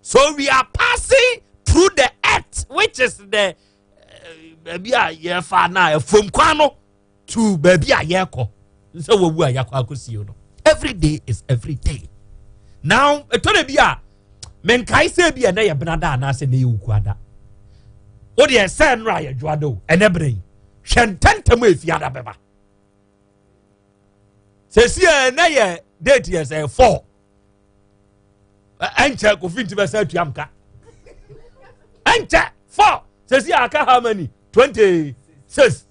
so we are passing through the earth which is the eh, baabi a yɛfa na ɛfam kwan no to baabi a yɛkɔ sɛ wɔwu a yɛakɔ akɔsie no every day is every day now ɛtɔ da bi a menkae sɛ bi a ɛnɛ yɛ benada anaasɛ ɛnɛ yɛ wukuada wodeɛ sɛ nnora yɛdwoada o ɛnɛ berɛ yi hwɛ ntɛntɛm a ɛfiada bɛba sɛsi a ɛnɛ yɛ date yɛ sɛ four ɛnkyɛ kofi nti bɛsɛ atua mka ɛnkyɛ four sɛsi aka how many twenty six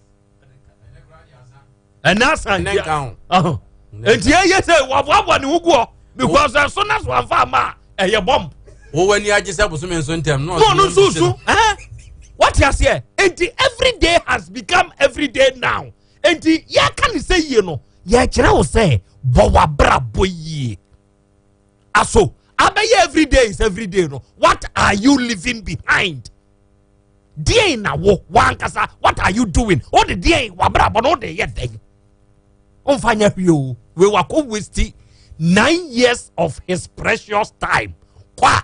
ɛnɛ asan nti ɛyɛ sɛ waboaboa ne ho guɔ because ɛso na so amfa ama a ɛyɛ bɔmb wowɔ ani agye sɛ bosome nso ntɛm no ɔno nso su wate aseɛ nti everyday has become everyday now enti yɛka ne sɛ yie no yɛkyerɛ wo sɛ bɔ w'abrabɔ yie aso abɛyɛ everyday is everyday no what are you leaving behind deɛn na wo wankasa what are you doing wode deɛn wabrabɔ no wode yɛ dɛn womfa nyɛ hwee o wei wakɔ wasti nine years of his precious time kɔ a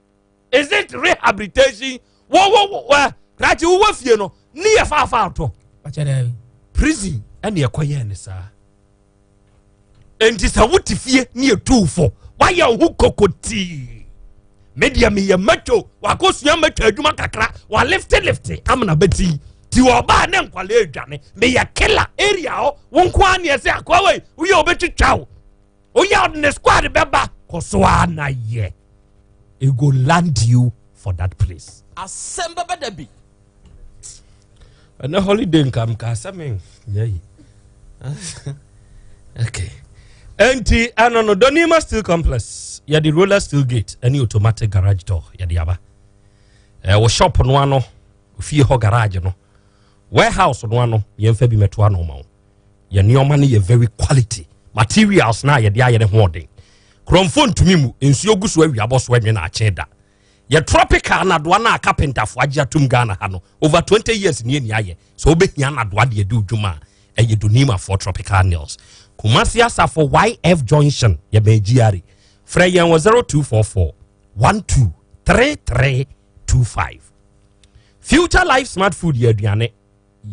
is it rehabilitation wo wo wo ɛ krakye wo wɔ fie no ne yɛ faafa ato prison ɛna ɛkɔ yɛn ne saa nti sɛ wote fie ne yɛ tu fo wayɛ wo ho koko tii me deɛ meyɛ mato wakɔsua mato adwuma kakra waliftelifte amena bɛti ti ɔbaa ne nkwalaa adwane meyɛ kela area hɔ wo nko a neɛ sɛ akoa wei woyɛ wobɛtwitwa wo Oya ɔde ne squad bɛba kɔ so ara na yɛ. It go land you for that place. Asɛm bɛbɛ da bi. Ɛnɛ holiday nka mka asɛm nyɛ yi. Okay. Enti ano no Donima Steel Complex yɛde roller steel gate ɛne automatic garage door yɛde aba. Ɛwɔ shop no ano ofie hɔ garage no warehouse no ano yɛmfa bi mɛtoa no ma wo. yɛ nneɛma no yɛ very quality materials no a yɛde ayɛ ne ho ɔden kurɔmfoɔ ntumi mu nsuo gu so awia bɔ so ɛnwe na akye da yɛ tropical nadoa no a kapentafoɔ agye atom ghana ha no over 20 years ni ani ayɛ sɛ wobɛhia nadoa deɛ de odwuma a ɛyɛ donimafoɔ tropical nails kumasi asafo yf junction yɛ bɛn gyiare frɛ yɛn wɔ 0244 123325 future life smart food yɛ aduane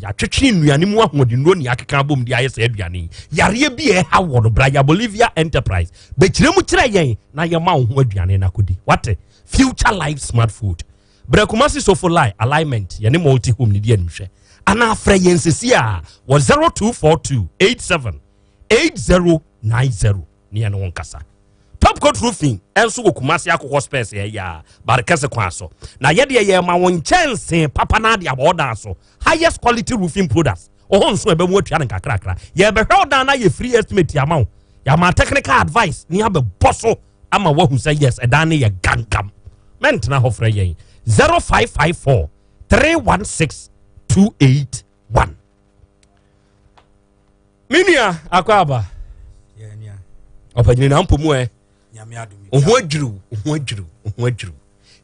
Yɛatwetwe nnuane mu ahoɔdennuro na yɛakeka abom de ayɛ saa aduane yi. Yareɛ bi a ɛha wɔ no, Braya Bolivia Enterprise bɛkyerɛ mu kyerɛ yɛn na yɛma wo ho aduane no akɔdi. Wate? Future Life Smart Food. Brɛ Kumasi Sofo Lai Alignment yɛne Multi Home no di animhwɛ. Anaa frɛ yɛn sesie ara wɔ 0242 87 8090. ne yɛne wo nkasa. Top Coat Roofing nso wɔ Kumasi akokɔ spares yɛ yɛ a Barikɛse kwan so. Na yɛ deɛ yɛma wo nkyɛnse papa na ade abɔ ɔdan so. Highest quality roofing products. Ɔhɔ nso ɛbɛ mu atua no nkakrakra. Yɛbɛhwɛ wo dan na yɛ free estimate ama wo. Yɛama technical advice ne abɛbɔ so ama wahu sɛ yes ɛdan no yɛ gangam. Mɛntena hɔ frɛ yɛn 0554 316 28 one me nua akɔ aba ɔpɛgyina na mpɔ mu ɛ ɔho adwiriw ɔho adwiriw ɔho adwiriw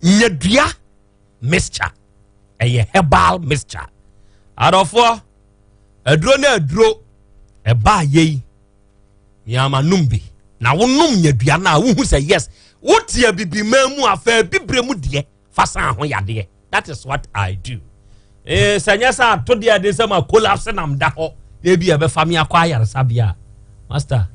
nyadua mixture ɛyɛ herbal mixture adɔfoɔ aduro na aduro ɛbaa yei miama nom bi na wonom nyadua no a wohu sɛ yes wotia bibi maa mu afɛ bibire mu deɛ fa saa ho yadeɛ that is what i do ee eh, sɛ nyɛ sɛ ato deɛ de sɛ ma collapse nam da hɔ ebi a ɛbɛfa me akɔ ayaresabea a master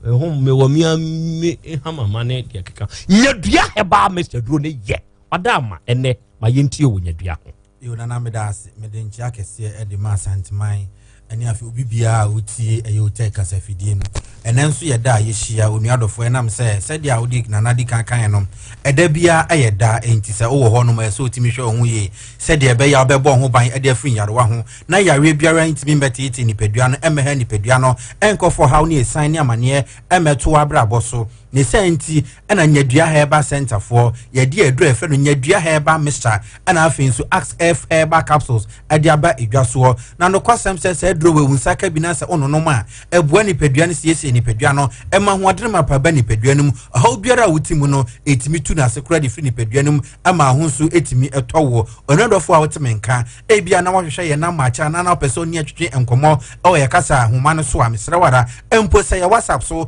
ɛho mewɔ mea me hamama ne deɛ keka nyadua herbal mixture duro ne yɛ ɔda ama ɛnɛ ma yɛntie wɔ nyadua ho Eo Nana meda ase mede nkyea kɛseɛ de ma Asanteman ɛne afei obi biara a wotie ɛyɛ otɛk kasafidie no ɛnɛ nso yɛ da a yɛhyia onua dɔfoɔ ɛnam sɛ sɛdeɛ a wode nana di kan kan no ɛda biara ɛyɛ da ɛnti sɛ wowɔ hɔ nom ɛyɛ sɛ wotumi hwɛ wo ho yie sɛdeɛ ɛbɛyɛ a wobɛbɔ ho ban ɛde afiri nyarewa ho na yareɛ biara ntumi mbɛteete nipadua no ɛmmɛha nipadua no ɛnkɔfɔ haw ne ɛsan ne amaneɛ ɛmmɛto abrabɔ so ne saa nti ɛna nyadua herbal center foɔ yɛde aduro ɛfrɛ no nyadua herbal mixture ɛna afei nso axe f herbal capsules ɛde aba edwa soɔ na nokwasɛm sɛ saa aduro wɔ ewu nsa ka bi na sɛ ɔnonom a ɛboa nipadua no siesie nipadua no ɛma ahoɔden ma pa ba nipadua no mu ɔhaw biara a wote mu no ɛtumi tu no ase koraa de firi nipadua no mu ɛma aho nso ɛtumi ɛtɔ woɔ ɔnadɔfoɔ a wote me nka ebia na wahwehwɛ yɛn nam maakyɛ anaa na wopɛ sɛ ɔne atwetwe nkɔmmɔ ɛwɔ yɛ kasa ahoma no so a mesrɛ wara mpo sɛ yɛ whatsapp so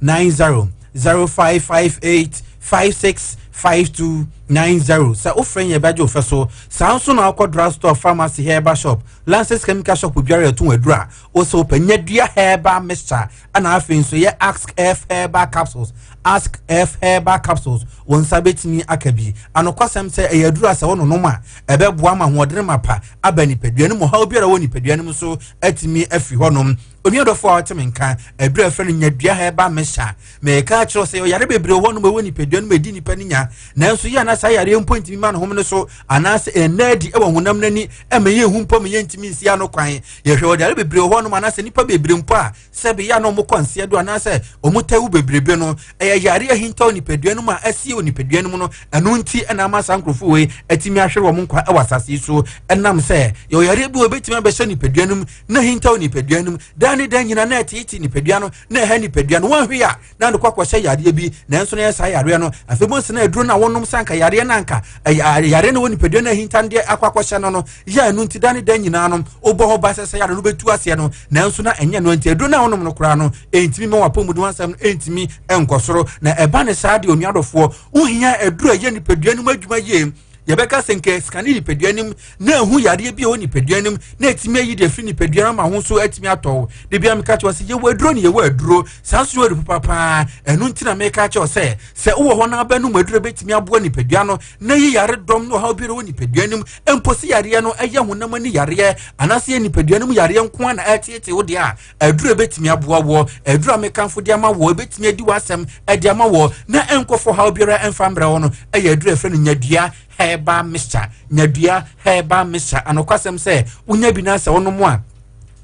nine zero zero five five eight five six five two nine zero sɛ wofrɛ yɛn bɛgye ofɛ so saa nso na akɔ drug store pharmacy herbal shop lances chemical shop biara yɛto wɔn adura wosɛ wopɛ nya dua herbal mixture ɛna afei nso yɛ ask f herbal capsules ask f herbal capsules wɔn nsa bɛtumi aka bi anokwasɛm sɛ ɛyɛ adura sɛ wononom a ɛbɛboa ma ahoɔdene ma pa aba nipadua no mu ɔhaw biara wɔ nipadua no mu so atumi afiri hɔnom onua dɔfo a ɔte me nka aduru a ɛfrɛ no nyadua ha ɛba me sa mɛka akyerɛ sɛ ɔyare bebree hɔ nom ɛwɔ nipadua no mu ɛdi nipa no nya nanso yɛ ana saa yareɛ mpo ntumi ma no home no so anaasɛ ɛnna adi ɛwɔ honam no ani ɛma yɛ hu mpo ma yɛntumi nsi ano kwan yɛhwɛ ɔde yare bebree hɔ nom anaasɛ nipa bebree mpo a sɛ beyɛ na ɔmokɔ nseɛ do anaasɛ ɔmotɛ wo bebrebe no ɛyɛ yare ahintaw nipadua no mu a asie wɔ nipadua no mu no ɛno nti ɛna ama saa nkurɔfoɔ wei atumi ahwere wɔn nkwa ɛwɔ asase so ɛnam sɛ yɛ ɔyare bi wɔ bɛtumi abɛhyɛ nipadua no mu na hintaw nipadua no mu daa ne daa nyina na ɛteete nipadua no na ɛha nipadua no wɔnhwe a na ɛde kɔ akɔhyɛ yareɛ bi nanso na ɛyɛ saa yareɛ no afei mu nsa na aduro no a wɔnom sɛ anka yareɛ no anka yareɛ no wɔ nipadua no ahinta no deɛ akɔ akɔhyɛ no no yɛ ɛno nti daa ne daa nyinaa no wobɔ ho ba sɛ sɛ yare no bɛtu aseɛ no nanso na ɛnyɛ no nti aduro no a wɔnom no koraa no ɛntumi ma wapɔ mu de wansɛm no ɛntumi nkɔ soro na ɛba ne saa deɛ onuadɔfoɔ wohia aduro a ɛyɛ nipadua no mu adwuma yie yɛbɛka sɛ nka sika ne nipadua nim na ehu yadeɛ bi a ɛwɔ nipadua nim na etumi ayi de afiri nipadua no ma ho nso atumi atɔ wo de bia meka kyerɛ sɛ yɛwɔ aduro ne yɛwɔ aduro saa nso yɛwɔ papa paa ɛno nti na meka kyerɛ sɛ sɛ wowɔ hɔ na abɛnom aduro bɛtumi aboa nipadua no na yi yare dɔm ne ɔhaw bi wɔ nipadua nim mpo sɛ yareɛ no ɛyɛ honam ani yareɛ anaasɛ yɛ nipadua no mu yareɛ nko a na ɛteetee wo deɛ a aduru ebetumi aboa wɔ aduru a mekanfo de ama wɔ ebetumi adi w'asɛm de ama wɔ na nkɔfo haw biara mfa mbrɛ wɔ no ɛyɛ aduru ɛfrɛ no nyadua herbal mixture nyadua herbal mixture anokwasɛm sɛ wonya bi na sɛ wonom a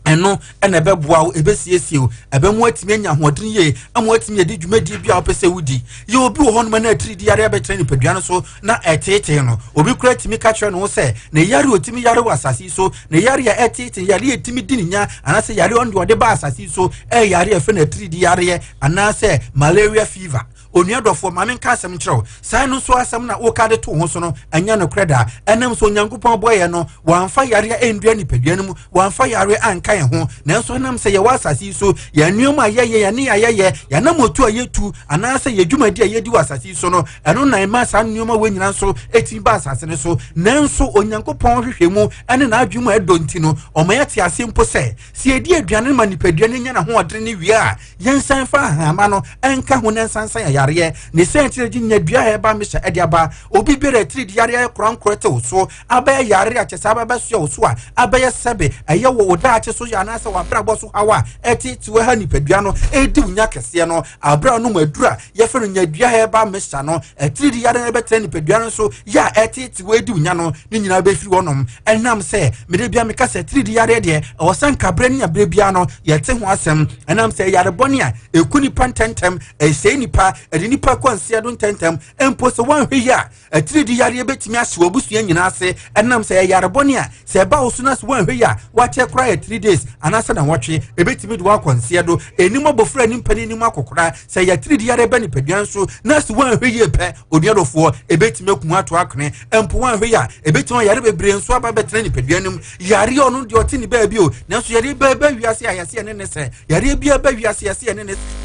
ɛno ɛna ɛbɛboa wo ɛbɛsiesie wo ɛbɛmu atumi anya ahoɔden yie ama atumi yɛde dwumadie bi a wopɛ sɛ wodi yɛ obi wɔ hɔnom na atiri di yare abɛkyerɛ nipadua no so na ɛteetee no obi kura tumi ka kyerɛ ne ho sɛ na yare otumi yare wɔ asase so na yare a ɛteetee yare a ɛtumi di ne nya anaasɛ yare ɔno deɛ ɔde ba asase so ɛyɛ yare a ɛfɛ na atiridi yareɛ anaasɛ malaria fever onua dɔfoɔ maame nka asɛm nkyerɛw saa no nso asɛm na woka de to ho so no ɛnyɛ nokorɛ da ɛnam sɛ onyankopɔn bɔeɛ no wɔamfa yareɛ ɛndua nipadua no mu wɔamfa yare anka yɛn ho nanso ɛnam sɛ yɛwɔ asase yi so yɛn nneɛma a yɛyɛ yɛn ne yɛayɛyɛ yɛn anamotu a yɛtu anaasɛ yɛn dwumadi a yɛdi wɔ asase yi so no ɛno na ɛma saa nneɛma wɔ nyinaa nso ɛtumi ba asase no so nanso onyankopɔn hwehwɛ mu ɛne n'adwene mu ɛdɔ nti no ɔma yɛte ase mpo sɛ sɛ yɛdi aduane no ma nipadua no nya n'ahoɔdene ne wie a yɛnsan fa ahama no ɛnka ho na ɛnsansan yayareɛ ne sɛ nkyerɛ gye nya dua a ɛba mehyɛ ɛde aba obi biara atiri de yareɛ korankorɔ tew so abɛyɛ yare a kyɛ sɛ abɛbɛsoa wo so a abɛyɛ sɛbe ɛyɛ wɔ wo daakye so yɛ anaasɛ w'abrabɔ so haw a ɛtetew ha nipadua no ɛredi wo nya kɛseɛ no aberɛ a ɔnom aduru a yɛfrɛ no nyadua hɛba mesa no atiridi yare no ɛbɛtena nipadua no so yɛ a ɛtetew ɛredi wo nya no ne nyinaa bɛfiri wɔnom ɛnam sɛ mede bia meka sɛ atiridi yare deɛ ɛwɔ sɛ nkaberɛ ne aberɛ biara no yɛte ho asɛm ɛnam sɛ yare bɔne a ɛku nipa ntɛntɛm ɛsɛe nipa ɛde nipa kɔ nseɛ do ntɛntɛm mpo sɛ wɔanhwɛ yi a Atiridii yareɛ bɛtumi ahye w'abusua nyinaa ase ɛnam sɛ ɛyɛ yarebɔne a sɛ ɛba wo so na sɛ woanhwɛ yɛ a woakyɛ koraa yɛ three days anaasɛ nawɔtwe ɛbɛtumi de woakɔ nseɛ do ɛnim abɔfra ne mpa no anim akɔkora sɛ ɛyɛ atiridii yareɛ ba nipadua nso na sɛ woanhwɛ yie pɛ onuadɔfoɔ ɛbɛtumi aku ato akone mpo woanhwɛ yɛ a ɛbɛtumi ayare bebree nso aba bɛtena nipadua no mu Yareɛ a ɔno deɛ ɔte ne baabi o, nanso yareɛ bi ba wiase a yɛse ɛne ne sɛ, yareɛ bi ba wiase yɛse ɛne ne sɛ.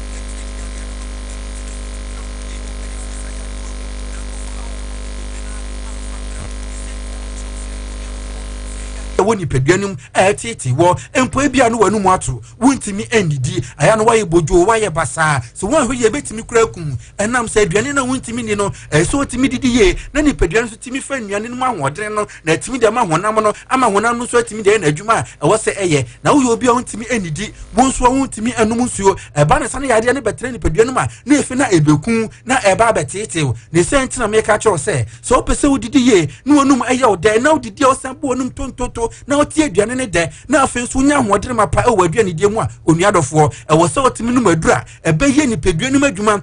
wɔ nipadua no mu a ɛtete wɔ mpo ebi a no wɔn mu ato wontumi nnidi ɛyɛ no wɔyɛ bodwo wɔyɛ basaa so wɔn ahwɛ yɛ betumi kura kum ɛnam sɛ aduane no a wontumi ni no ɛsɛ wɔtumi didi yie na nipadua no nso tumi fɛ nnuane no mu ahoɔden no na atumi de ama honam no ama honam no nso atumi de yɛ n'adwuma a ɛwɔ sɛ ɛyɛ na woyɛ obi a wontumi nnidi wo nso a wontumi nnom nsuo ɛba ne sa no yadeɛ no bɛtena nipadua no mu a na efi na ɛbɛku na ɛba abɛteetew ne sɛ nti na meka kyerɛ wo sɛ sɛ wopɛ sɛ wodidi yie na wɔnum ɛyɛ wo dɛ na wodidi a wosan bo wɔnum tontoto na wotie aduane ne dɛ na afei nso wonya ahoɔden ma pa ɛwɔ aduanedie mu a onua dɔfoɔ ɛwɔ sɛ wotumi nom aduru a ɛbɛyɛ nipadua no mu adwuma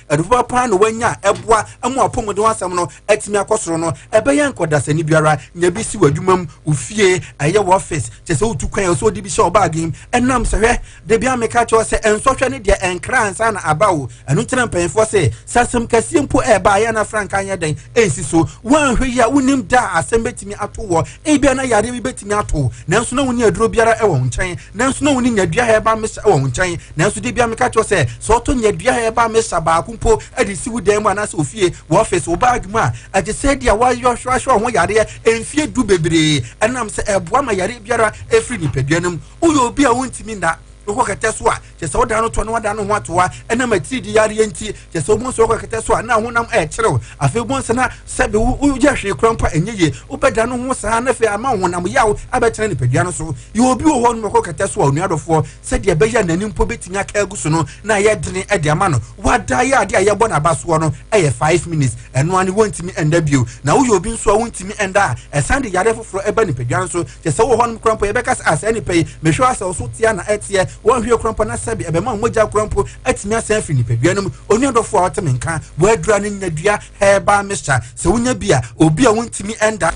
Ɛdofa paa na wanya ɛboa ɛmo apɔmuden asɛm no atumi akɔ soro no. Ɛbɛyɛ nkɔdasani biara nya bi si wɔ adwuma mu, wo fie, ɛyɛ wɔ office, kyɛ sɛ wotu kwan a ɛsɛ ɔde bi hyɛ ɔbaage mu. Ɛnam sɛ hwɛ, debia meka kyerɛ wo sɛ nsɔhwɛ ne deɛ ɛnkra ansa na aba o. Ɛno nti na mpanyinfoɔ se, sɛ asɛm kɛseɛ mpo ɛɛba a yɛn na frankaa nyɛ dɛn. ansi so. Woanhwɛ yie a, wunnim da a asɛm betumi ato woɔ. Ebia na yareɛ bi betumi ato wo, nanso na wunni aduro biara wɔ wo nkyɛn. Nanso na wunni nyadua herbal mixture wɔ wo nkyɛn. Nanso da bi ara meka kyerɛ wo sɛ, sɛ wotɔ nyadua herbal mixture baako mpo de si wo dan mu anaasɛ wo fie, wo ɔfese, wo bag mu a, ɛte sɛ deɛ woahwehwɛ wo ho yareɛ mfeɛ du bebree. Ɛnam sɛ ɛboa ma yareɛ biara firi nipadua no mu. Woyɛ obi a wuntumi nna, wokɔ kɛtɛ so a, kyɛ sɛ ɔdan no toa na wadan ne ho atoa ɛnam atiridii yareɛ nti kyɛ sɛ wobɔ nso kɛtɛ so a na honam ɛrekyerew afei wobɔ nsa na sɛbe woyɛ hwee kora mpo a ɛnyɛ yie wobɛda no ho saa na afei ama honam yaw abɛtena nipadua no so yɛ obi wɔ hɔ no mɛkɔ kɛtɛ so a onua dɔfoɔ sɛdeɛ ɛbɛyɛ n'ani mpo bɛtumi aka agu so no na ayɛ dene de ama no wada yɛ adeɛ a yɛbɔ n'aba soɔ no ɛyɛ five minutes ɛno ane wontumi ɛnda bio na woyɛ obi nso a wontumi ɛnda a ɛsan de yareɛ foforɔ ɛba nipadua no so kyɛ sɛ wɔ hɔ no kora mpo yɛbɛka sɛ asɛe nipa yi mehwɛ asɛ wo so tea na ɛteɛ Wɔnhwie koraa mpo na sɛbe ɛbɛma mogya koraa mpo atumi asan afiri nipadua no mu. Onua dɔfo a ɔte me nka, w'adura no nya dua herbal mixture. Sɛ wonya bi a, obi a wontumi nda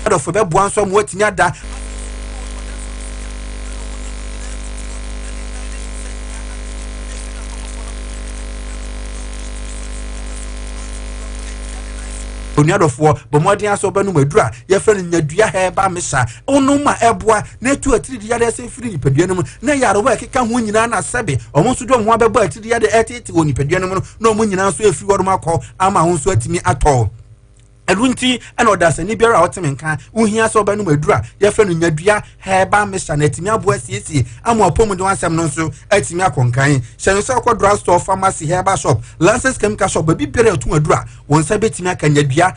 adɔfo bɛboa nso ama woatumi ada Onua dɔfoɔ, bɔ mmɔden ara sɛ wobɛnom adura a yɛfrɛ no nyadua herbal mixture wonom ma ɛboa na ɛtu atiridii yadeɛ sɛ firi nipadua no mu na yarewa a ɛkeka ho nyinaa na sɛbe wɔn nso de wɔn ho abɛbɔ atiridii yadeɛ ɛtete wɔ nipadua no mu no na wɔn nyinaa nso afiri wɔnom akɔ ama wɔn nso atumi atɔ ɛno nti ɛna ɔdasani biara a ɔte me nka wohia sɛ ɔbɛnom aduru a yɛfrɛ no nyadua hɛba mesa na atumi aboa asiesie ama ɔpɔmu de wansɛm no nso atumi akɔ nkan hyɛ no sɛ ɔkɔ drug store pharmacy hɛba shop lances chemical shop baabi biara ɛto aduru a wɔn nsa bɛtumi aka nyadua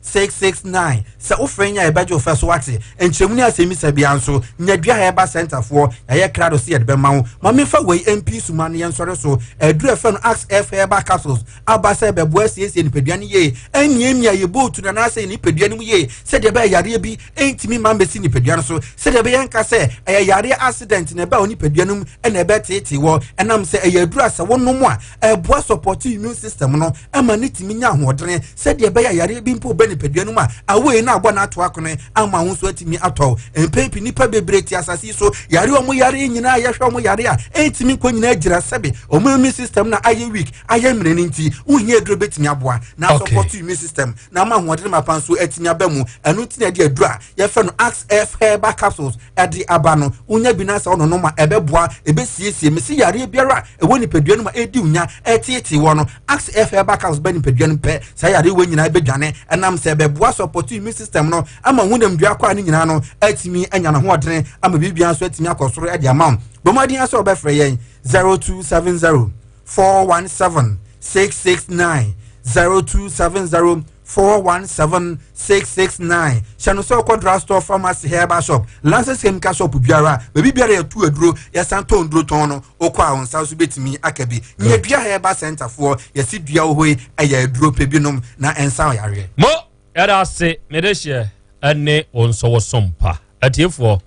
six six nine sɛ wofrɛ yɛn a yɛbɛgye wo fɛ so wate nkyerɛmu ne asɛmmisa biara nso nya dua ha yɛba sɛntafoɔ yɛayɛ krado sɛ yɛde bɛma wo ma memfa wei mpi suma no yɛnsɔre so aduru ɛfɛ no axe f herbal capsules aba sɛ bɛboa asiesie nipadua no yie ɛmiamia yɛ bootu no anaasɛ yɛ nipadua no mu yie sɛdeɛ ɛbɛyɛ yareɛ bi ɛntumi ma mmɛsi nipadua no so sɛdeɛ ɛbɛyɛ nka sɛ ɛyɛ yareɛ accident na ɛbɛ wɔ nipadua no mu ɛna ɛbɛteetee wɔ ɛnam sɛ ɛyɛ aduru a sɛ wonom a ɛboa support immune system no ɛma ne tumi nya ahoɔdene sɛdeɛ ɛbɛyɛ yareɛ bi mpo bɛ nipadua no mu a awei na abɔ n'ato akone ama ho nso atumi atɔ mpɛn pi nipa bebree ti asase yi so yare ɔmo yare nyinaa yɛhwɛ ɔmo yare a ɛntumi nkɔ nyinaa gyina sɛbe ɔmo immune system na ayɛ weak ayɛ mmerɛ no nti wohia aduro bɛtumi aboa na support immune system na ama ahoɔdene ma pa nso atumi aba mu ɛno nti na ɛde aduro a yɛfɛ no axe f herbal capsules ɛde aba no wonya bi no asɛ ɔnonom a ɛbɛboa ɛbɛsiesie mesi yareɛ biara ɛwɔ nipadua no mu a ɛredi nya ɛreteetee wɔ no axe ɛfɛ ba caps ba nipadua no pɛ saa yareɛ wɔ nyinaa bɛdwane ɛnam sɛ ɛbɛboa sɔpɔto immune system no ama honam dua kɔ a ne nyinaa no atumi anya no hoɔdene ama biribia nso atumi akɔ soro ɛde ama bɔmmɔden asɛ wɔbɛfrɛ yɛn 0270 417 669 0270 four one seven six six nine hyɛ no sɛ ɔkɔ drug store pharmacy herbal shop lances chemical shop biara baabi biara yɛtu aduro yɛsan tɔn duro tɔn no okɔ a nsa so betumi aka bi nyɛ dua herbal center foɔ yɛsi dua wɔ hɔ yi ɛyɛ aduro pɛ bi nom na nsa ɔyareɛ. mo yɛda ase mede hyɛ ɛne wɔn nsɔwɔsɔm pa atiefoɔ.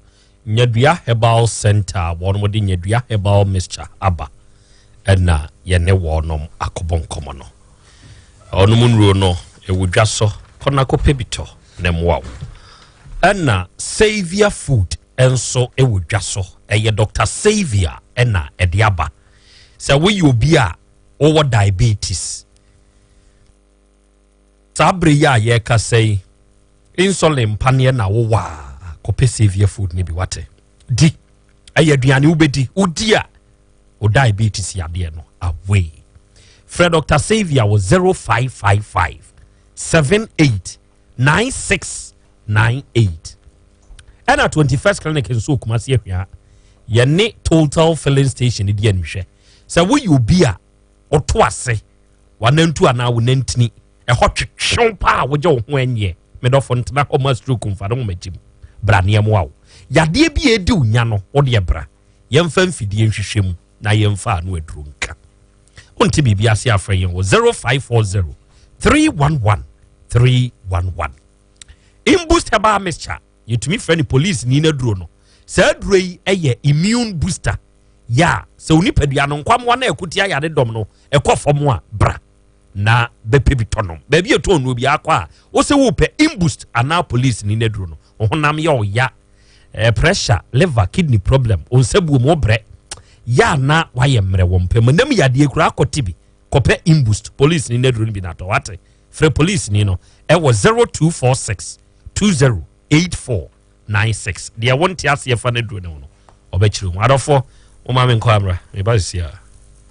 Nyadua Herbal Centre a wɔde Nyadua Herbal Mixture aba na yɛne wɔnom akɔbɔ nkɔmmɔ no. Wɔnom nnuro no, ɛwɔ dwa so, kɔ na kɔpɛ bi tɔ na mmoa wo. Ɛna Saviour Food nso ɛwɔ dwa so, ɛyɛ Dr. Saviour ɛna ɛde aba. Sɛ woyɛ obi a wɔwɔ diabetes, Saa bere yi a yɛrekasa yi, insulin pa neɛ na wowɔ a, kɔpɛ savior food no bi wate di. Ɛyɛ aduane wobɛdi, wodi a o diabetes yadeɛ no away. Frɛ Dr. Savior wɔ 0555 78 9698 ɛna 21st clinic nso okuma se ahwia yɛne total filling station di anihwɛ sɛ woyɛ obi a ɔto ase w'anantu anaa wo nantini ɛhɔ twetwew paa wogye wo ho ɛnyɛ medɔfo ntena hɔ ma stroke mfa no nwoma gyim bra nneɛmoa wo yadeɛ bi a ɛdi wo nya no wodeɛ bra yɛmfa mfidie nhwehwɛ mu na yɛmfa ano aduro nka wonte biribi ase afrɛ yɛn wɔ 0540 311 311 imboost herbal mixture yɛtumi frɛ no polisini no aduro no saa aduro yi yɛ immune booster yɛ a sɛ wo nipadua no nkwammoa no ɛko tia yare dɔm no ɛkɔ fam a bra na bɛpɛ bi tɔnom baabi a ɛtɔn no obi akɔ a wo sɛ wopɛ imboost anaa polisini no aduro no wo honam yɛ ɔya eh, pressure liver kidney problem wo nsa buom wo brɛ yɛ a na wayɛ mmerɛ wɔ mpɛ mu nam yadeɛ kura akɔ tibi kɔpɛ imboost polisini no aduro no bi natɔ wate frɛ polisini no ɛwɔ 0246 208496 deɛ wo nte aseɛ fa no aduro ne wo no ɔbɛkyerɛ mu adɔfoɔ wo ma me nkɔ amra meba sisi a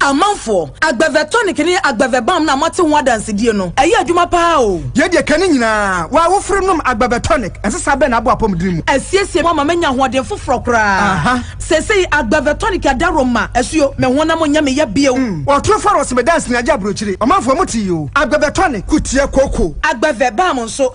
amanfoɔ agbɛvɛ tonic ne agbɛvɛ balm na moate ho adansedie no ɛyɛ adwuma paa o. yɛ deɛ ka ne nyinaa wa woforo nom agbɛvɛ tonic ɛsesa bɛn na abɔ apɔmuden mu. ɛsiesie mo ama manya ahoɔden foforɔ koraa sɛsɛ yi agbɛvɛ tonic adaro ma asuo me honam nyɛ me yɛ bio. Mm, ɔtoro faro sɛ medansi na agye aburokyire ɔmanfoɔ mo te yi o agbɛvɛ tonic kutia koko. agbɛvɛ balm nso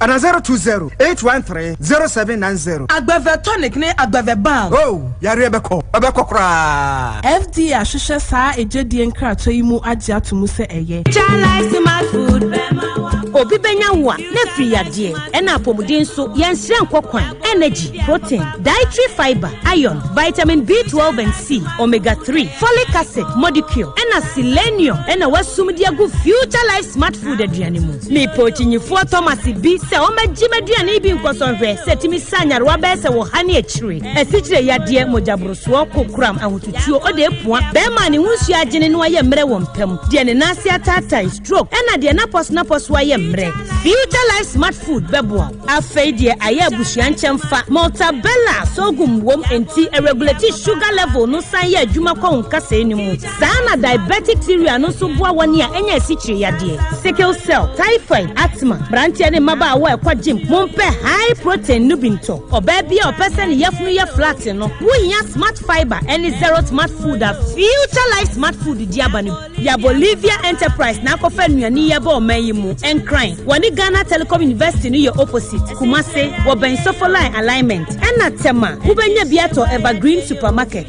Ana zero two zero eight one three zero seven nine zero. Agbɛvɛ tonic ne agbɛvɛ balm. Oh, yareɛ bɛkɔ, ɛbɛkɔ koraa. FDA ahwehwɛ saa egyedie nkratoɔ yi mu agye ato mu sɛ ɛyɛ. Jah life smart food bɛma wo akɔ. Obi bɛnya wo a na afiri yadeɛ ɛna apɔmuden so yɛn srɛ nkɔ kwan energy protein dietary fibre iron vitamin B twelve and C omega three folic acid molecule ɛna selenium ɛna wasum de agu future life smart food aduane mu. Mepɛ ɔkyinyifoɔ Thomas bi sɛ ɔmmɛgye m'aduane yi bi nkɔsɔhwɛ sɛ ɛtumi sa nyarewa bɛyɛ sɛ wɔha ne akyire, asikyire yadeɛ, mogyaborosoɔ, kokoram, ahotutuo, ɔde apua, bɛrima a ne ho nsuo agyene na wayɛ mmerɛ wɔ mpa mu, deɛ ne nan ase ataatae, stroke, ɛna deɛ n'apɔsonapɔ so ayɛ mmerɛ. Future Life Smart Food bɛboa wo. Afei deɛ ayɛ abusua nkyɛmfa, Maltabella sorghum wom enti ɛregulate sugar level no san yɛ adwuma kɔ wo nkasɛɛ no mu. Saa ara na diabetic urea no nso boa wɔn a anya asikyire yadeɛ, sickle cell, typhoid, asthma, mmeranteɛ ne mmabaawa a ɛkɔ gym. Mompɛ high protein no bi ntɔ. Ɔbaa bi a ɔpɛ sɛ ne yafunu yɛ flat no, wohia Smart Fiber ne Zero Smart Food a Future Life Smart Food de aba no bi. Ya Bolivia Enterprise na akɔfa nnuane yi aba ɔman yi mu. Nkran, wɔne Ghana Telecom University no yɛ opposite, Kumasi, wɔbɛn Sofo Line alignment. Ɛna Tema, wobɛnya bi atɔ Evergreen Supermarket.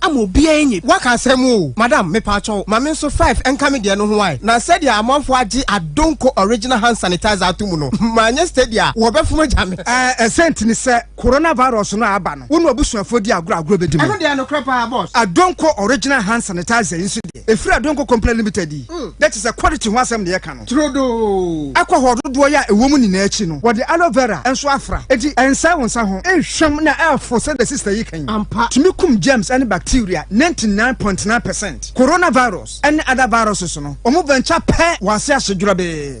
ama obiara enye. Waka asɛm oo! Madam mepaakyɛw ma me nso five nka me deɛ no ho ae na sɛdeɛ amanfoɔ agye Adonko original hand sanitizer ato mu no manyɛ steady a wɔbɛfom agya me. Ɛɛ ɛsɛ nti ne sɛ Corona virus no a aba no wo ne w'abusuafoɔ di agorɔ a agorɔ bɛdi mu. Ɛno deɛ nokorɛ paa boss. Adonko original hand sanitizer yi nso deɛ. ɛfiri Adonko Company Limited yi, na kyerɛ sɛ quality ho asɛm na yɛka no. Turodoo! Alcohol dodoɔ yɛ a ɛwɔ mu nyinaa akyi no, wɔde aloe vera nso afra, enti ɛnsɛe wo nsa ho, nhwam na ɛfo sɛdeɛ sister yi ka yi. Ampa! Tumi kum germs ne bacteria 99 point 9 percent. Coronavirus ne other viruses no, wɔn venture pɛ wɔ ase ahye dwerɛbee.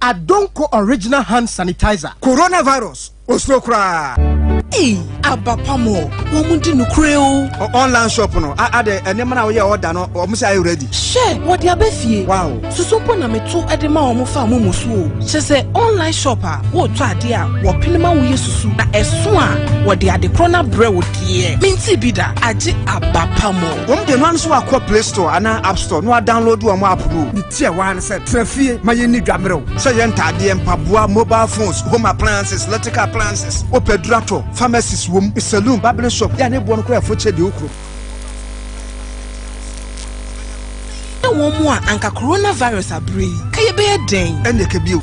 Adonko original hand sanitizer. Corona virus osuro koraa. Ei aba pa mo wɔn di no kure o. online shop no a adɛ nneɛma na wɔyɛ ɔda no wɔn sɛ ayɛ ready. hyɛ wɔde abɛ fie. wow soso mpo na meto ɛde ma wɔn fa mo mu so o. kyɛ sɛ online shop a wɔretɔ adeɛ a wɔpene ma wɔyɛ susu na ɛso a wɔde ade korɔ no abrɛ wo deɛ menti bi da agye aba pa mo. wɔn de no ano so wakɔ play store anaa app store na wadownload wɔn app no. Tiawa ara ne sɛ, Tra fie, ma yɛnni dwa mmerɛw. Sɛ yɛ ntadeɛ, mpaboa, mobile phones, home appliances, electrical appliances, wopɛ aduru atɔ, pharmacies wom, saloon, barbering shop, yɛ a ne boɔ no koraa yɛ fokyɛ deɛ wokuro. Ɛne wɔn mu a anka coronavirus abere yi, ka yɛbɛyɛ dɛn? Ɛnneɛ ka bio.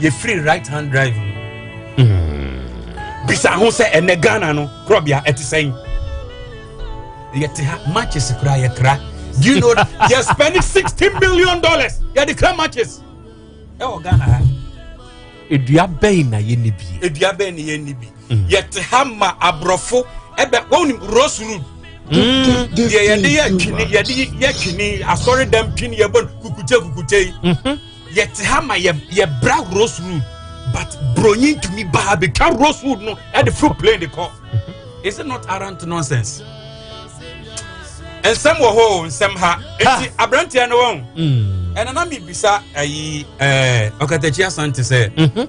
yɛfiri right hand drive mu hmm. bisa ho sɛ ɛnɛ ghana no korɔbea ɛte sɛn yɛte ha matches koraa yɛkra do you know that yɛ spending sixty million dollars yɛde kra matches ɛwɔ ghana ha edua bɛn na yɛnni bi edua bɛn na yɛnni bi hmm. yɛte ha ma aborɔfo ɛbɛ wɔn ni rose road hmm. deɛ yɛde yɛ twene yɛde yɛ twene asɔre dɛm twene yɛ bɔ kukute kukute yi. yɛte ha ma yɛ yɛbra rosewood but bronyi ntumi ba ha betwa rosewood no ɛde foro plane de kɔ is it not arrant nonsense nsɛm wɔ hɔ o nsɛm ha eti aberanteɛ no wɔn ɛna na mi bisa ayi ɛɛ ɔkatakyia sante sɛ.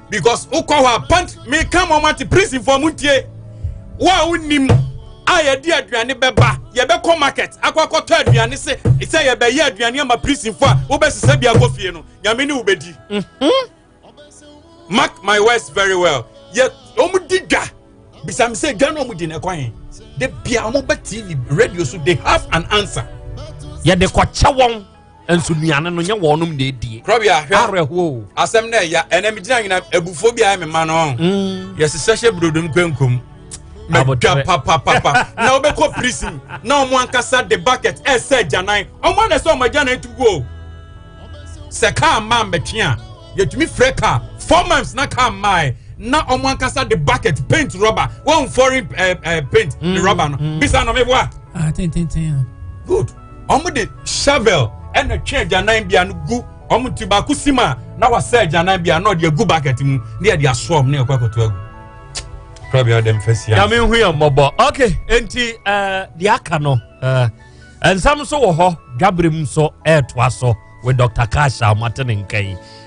because wokɔ hɔ a pant meka ma ɔmate prisonfoɔ mo ntie wo a wonim a yɛde aduane bɛba yɛbɛkɔ market akɔ akɔtɔ aduane se sɛ yɛbɛyɛ aduane ama prisonfoɔ a wobɛsesɛ bi akɔ fie no nyame ne wobɛdi mhm. mark my words very well yɛ ɔmdi dwa bisam sɛ dwa no ɔmdi no ɛkwan he de bia ɔmɔba tv radio so they have an answer yɛde kɔkyɛ wɔn nso nnuane no nyɛ wɔnom na ɛdie korɔbea hwɛ awerɛhoɔ asɛm na ɛya ɛnɛ megyina nwena abufoɔ bi ayɛ me ma no mm. yɛsesɛ hyɛ burodom kwankom mɛdwa papapapa na wobɛkɔ prison na ɔmo ankasa de bucket ɛsɛ agyanan ɔmo ana sɛ ɔmo agyanan tu guo sɛ kaa mmaa mmɛtwe a yɛtumi frɛ kaa four months na kaa mmaa na ɔmo ankasa de bucket paint rubber wɔn foreign uh, uh, paint mm, ne rubber no mm. bisa na ɔmo eboa. ah tententen. good. wɔn de shovel na twɛn agyanan bea no gu wɔn nti baako si ma na wasa agyanan bea na ɔde agu bucket mu ne yɛde asoa wɔn ne yɛkɔ akoto agu kura bi a ɔde mfa sia. nyame hu yɛn mmɔbɔ ok nti eh, deɛ aka no eh, nsɛm nso wɔ hɔ dwabere mu nso ɛretoa so with dr kasha ɔmatene nka yi